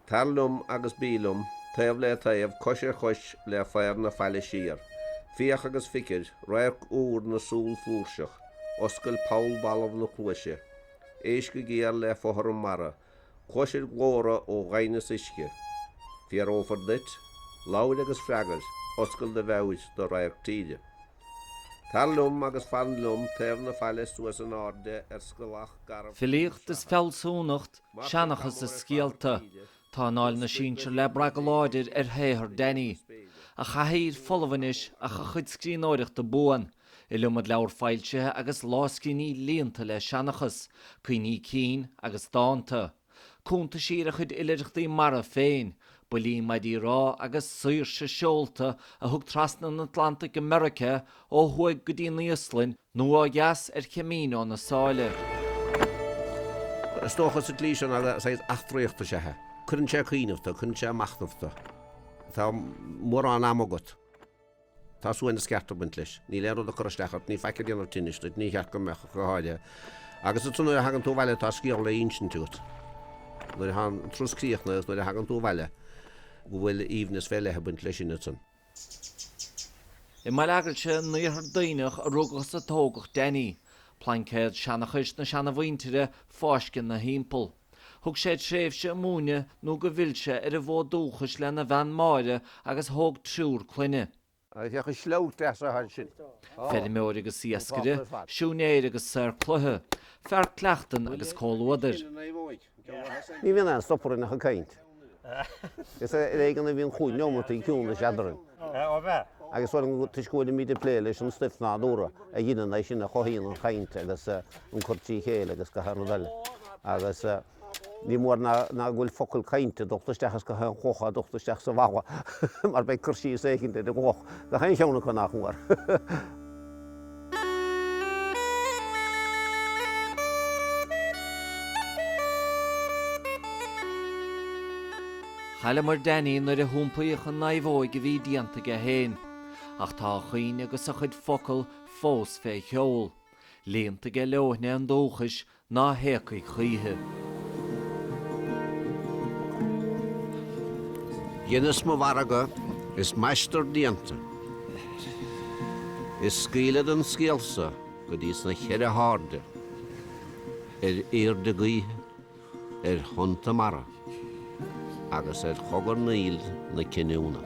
Tar liom agus bí liom, taobh le taobh, cois ar chois le faobhar na faille siar, féach agus feicfir, radharc úr na súl flúirseach, oscail poll balbh na cluaise, éist go géar le fothram mara, cloisfir glórtha ó dhoimhneas uisce, fiafrófar duit, labhair agus freagair, oscail do mheabhair do radharc tíre. Tar liom agus fan liom taobh na faille suas in airde ar scrollach garbh Filíocht is fealsúnacht, seanchas is scéalta, tá anáil na sinsear le brath go láidir ar shaothar Danny. A chathaoir folamh anois ach a chuid scríbhneoireachta buan, iliomad leabhar foilsithe agus lámhscríbhinní líonta le seanchas, cuimhní cinn agus dánta. Cuntaisí ar a chuid oilithreachtaí mara féin, buillí maidí rámha agus saoirse seolta a thug trasna an Atlantaigh go Meiriceá ó thuaidh go dtí an Íoslainn nó ó dheas ar Chamino na Sáile. Is dócha sa tslí sin, agus saghas eachtraíochta is ea é. Cuireann sé ag cuimhneamh tú, cuireann sé ag machnamh tú. Tá mórán ama agat. Tá suaimhneas ceart ag baint leis. Níl aon rud ag cur isteach ort, níl faic ag déanamh tinnis duit, ní cheart go mbeadh ach go háirithe. Agus is nuair a thagann tú abhaile atá scéal le hinsint agat. Nuair atá an turas críochnaithe is nuair a thagann tú abhaile go bhfuil aoibhneas fé leith ag baint leis sin ansan. I mBaile Eaglaise in Iarthar Duibhneach a rugadh is a tógadh Danny. Plaincéad seanchais na seana-mhuintire fáiscthe ina thimpeall. Thug sé tréimhse ag múineadh nó go bhfill sé ar an bhfód dúchais lena bhean Máire agus thóg triúr clainne. Féach an sleabhac deas athá ansin. Feirmeoir agus iascaire, siúinéir agus saor cloiche, fear cuileachtan agus comhluadair. Ní bhíonn aon stop orainn ach ag caint. Is ar éigean a bhíonn cúig neomataí ciúnais eadarainn, agus b'fhéidir toisc go bhfuilimíd ag plé leis an stuif nádúrtha a dheineann é sin, a chothaíonn an chaint agus an cur trí chéile agus gach aon rud eile, agus ní mór ná go bhfuil focal cainte dulta isteach ins gach aon chloch atá dulta isteach sa bhfalla, mar beidh cur síos éigint ar an gcloch gach aon cheann acu, nach mór. Chailleamar Danny nuair a hiompaíodh an naomhóig a bhí déanta aige féin, ach tá a chuimhne agus a chuid focal fós fé sheol, líonta aige leoithne an dúchais Ná héagfaidh choíche. Dheineas mo mhargadh is m'aistear déanta, Is scaoilead an scéalsa go dtís na cheithre hairde, Ar aoirde gaoithe, ar thonnta mara, Agus ar chogarnaíl na cinniúna.